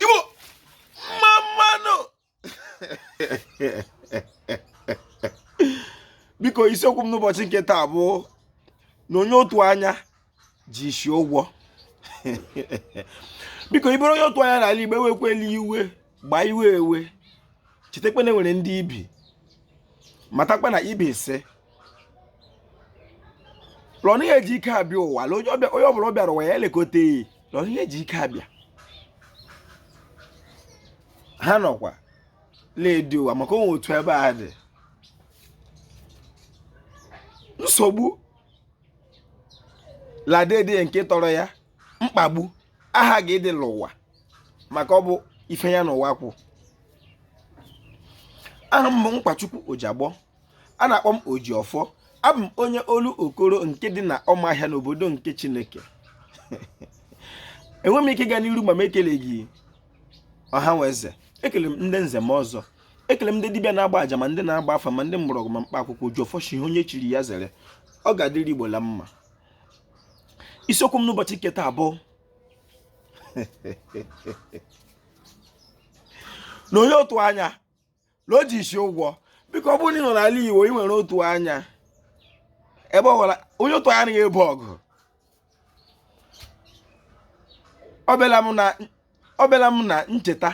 igbo mma mmanụ biko isiokwu m n'ụbọchị nke taa bụ na onye otu anya ji isi ụgwọ biko ị bụrụ onye otu anya n'ala igbo ewekwela iwe gbaa iwe ewe chetakwa na enwere ndị ibi matakwa na ibi isi lọnụ ihe ji ike abịa ụwa onye ọbụla ọ bịara ụwa ya elekọta eyi lọnụ ihe ji ike abịa ha nọkwa na-edi ụwa maka onwe otu ebe a dị nsogbu ladede nke tọrọ ya mkpagbu aghaghị ịdị n'ụwa maka ọ bụ ife ya n'ụwa kwụ aha m bụ nkwachukwu ojagbọ a na-akpọ m Ojiọfọ abụ m onye Olokoro nke dị na ọmahịa n'obodo nke Chineke enwe m ike ịga n'iru ma m ekeleghị ọha nwe eze ekele m ndị nze ma ọzọ ekele m ndị dibịa na-agba aja ma ndị na-agba afa ma ndị mgbọrọgwụ ma mkpa akwụkwọ Ojiọfọ shi ihe onye chiri ya zere ọ ga-adịrị Igbo la mma isiokwu m n'ụbọchị nke taa bụ na onye otu anya na o ji isi ụgwọ biko ọ bụrụ na ị nọ n'ala Igbo ị nwere otu anya ebe ọ gwara onye otu anya na-ebu ọgụ ọ bịala m na ncheta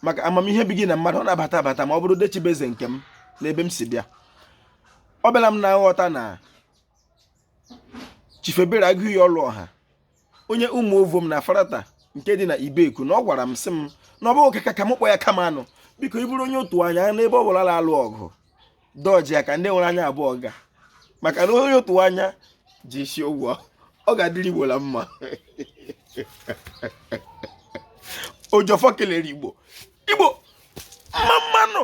maka amamihe ebighị na mmadụ ọ na-abata abata ma ọ bụrụ dechibeze nke m n'ebe m si bịa ọ bịala m na nghọta na chief Ebere Agụiyi Ọlụọha onye ụmụovom na afarata nke dị na ibeku na ọ gwara m sị m na ọ bụghị ka ka m kpọ ya kama anụ biko ị bụrụ onye otu anya n'ebe ọ bụla a na-alụ ọgụ dọji ya ka ndị nwere anya abụọ ga maka na onye otu anya ji isi ụgwọ ọ ga-adịrị igbo la mma ojiọfọ kelere igbo igbo mma mmanụ